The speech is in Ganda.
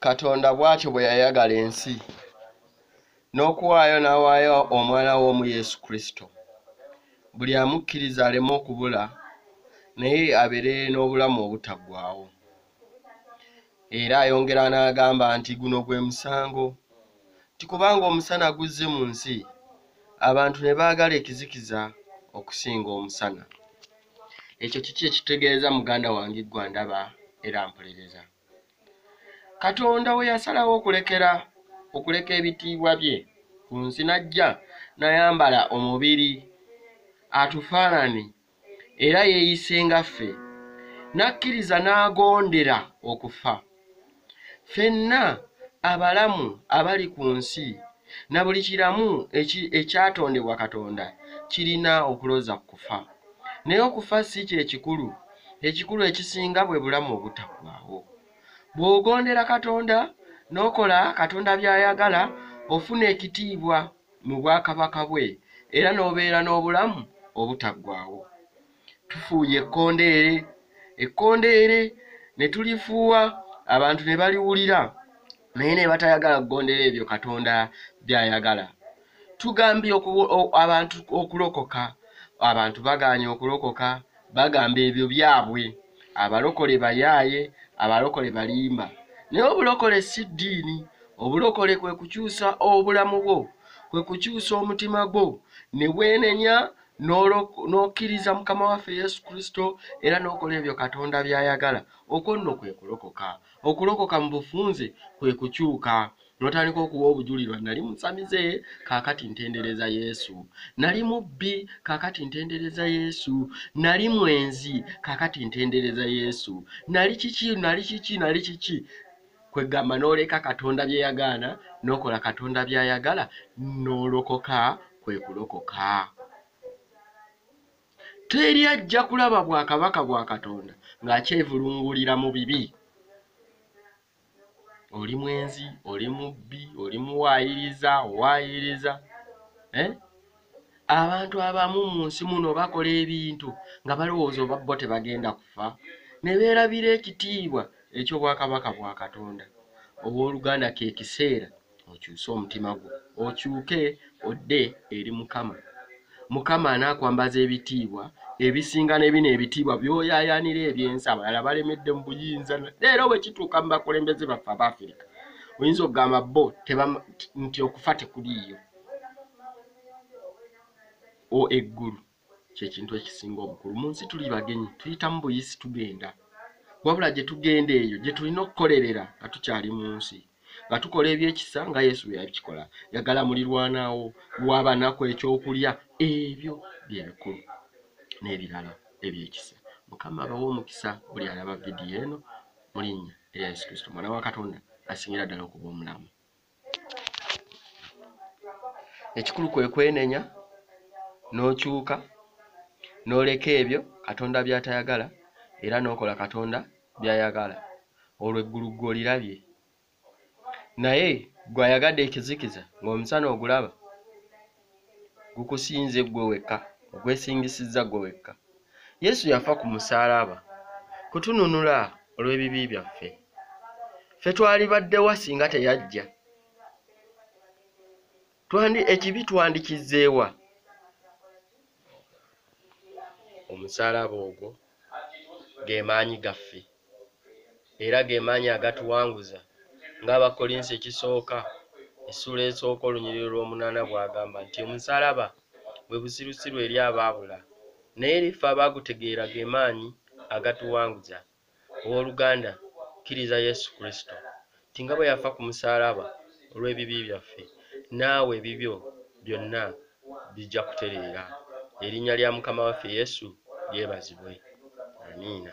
katonda bw'atyo bwe yayagala ensi n'okuwaayo n'awaayo omwana w'omu yesu kristo buli amukkiriza aleme okubula naye abeere n'obulamu obutaggwawo era ayongera n'agamba nti guno gwe musango nti kubanga omusana guzze mu nsi abantu ne baagala ekizikiza okusinga omusana ekyo kiki ekitegeeza muganda wange ggwa ndaba era mpuliriza katonda we yasalawo okulekera okuleka ebitiibwa bye ku nsi n'ajja nayambala omubiri atufaanani era yeeyise nga ffe n'akkiriza n'agondera okufa Fenna abalamu abali ku nsi na buli kiramu ekyatondebwa Katonda kirina okuloza ku kufa. Naye okufa si kye kikulu. Ekikulu ekisinga bwe bulamu obutaggwaawo. Bw'ogondera Katonda n'okola Katonda by'ayagala, ofuna ekitiibwa mu bwakabaka bwe era n'obeera n'obulamu obutaggwaawo. tufuuye ekkondeere ekkondeere ne tulifuuwa abantu ne baliwulira naye ne batayagala kugondera ebyo katonda by'ayagala tugambye abantu okulokoka abantu bagaanye okulokoka bagamba ebyo byabwe abalokole bayaaye abalokole balimba naye obulokole si ddiini obulokole kwe kukyusa obulamu bwo kwe kukyusa omutima gwo ne bwenenya n'okkiriza mukama waffe yesu kristo era n'okola ebyo katonda by'ayagala okwo nno kwe kulokoka okulokoka mu bufunze kwe kukyuka notandika okuwa obujulirwa nali musamize kakati ntendereza yesu nali mubbi kakati ntendereza yesu nali mwenzi kakati ntendereza yesu nali kiki nali kiki nali kiki kwegamba n'oleka katonda bye yagaana n'okola katonda by'ayagala n'olokoka kwe kulokoka teri ajja kulaba bwakabaka bwa katonda ng'akyevulungulira mu bibi oli mwenzi oli mubbi oli muwaayiriza owaayiriza eh? abantu abamu mu nsi muno bakola ebintu nga balowooza oba bo tebagenda kufa ne beerabira ekitiibwa eky'obwakabaka bwa Katonda. Ow'oluganda, ke kiseera okyuse omutima gwo, okyuke odde eri Mukama. Mukama anaakwambaza ebitiibwa ebisinga ne bino ebitiibwa by'oyaayaanira eby'ensi abalala balemedde mu buyinza. Leero bwe kituuka mu bakulembeze baffe Abaafirika, oyinza okugamba bo nti okufa tekuliiyo. o eggulu kyekintu ekisinga obukulu mu nsi tuli bagenyi tuyitamu buyisi tugenda wabula gye tugenda eyo gye tulina okukolerera nga tukyali mu nsi nga tukola ebyekisa nga yesu bwe yabikikola yagala mulirwanaawo wabanaku ekyokulya ebyo bye bikulu n'ebirala ebyekisa mukama abawa omukisa buli alaba vidiyo eno mu linnya erya yesu kristo mwana wa katonda asingira ddala okuba omulamu ekikulu kwe kwenenya n'okyuka n'oleka ebyo katonda by'atayagala era n'okola katonda by'ayagala olwo eggulu ggwe olirabye naye gwe ayagadde ekizikiza ng'omusana ogulaba gukusinze ggwe wekka ogwesingisizza ggwe wekka yesu yafa ku musaalaba kutununula olw'ebibi byaffe ffe twali baddewa singa teyajja twandi ekibi twandikizzeewa omusaalaba ogwo ge maanyi gaffe era ge maanyi agatuwanguza ng'abakkolinsi ekisooka essuula esooka olunyiriro lw'omunaana bw'agamba nti omusaalaba bwe busirusiru eri abaabula naye eri ffe abaagutegeera ge maanyi agatuwanguza Ow'oluganda, kkiriza Yesu Kristo, nti nga bwe yafa ku musaalaba olw'ebibi byaffe, naawe ebibyo byonna bijja kutereera. Erinnya lya Mukama waffe Yesu lyebazibwe. Amiina.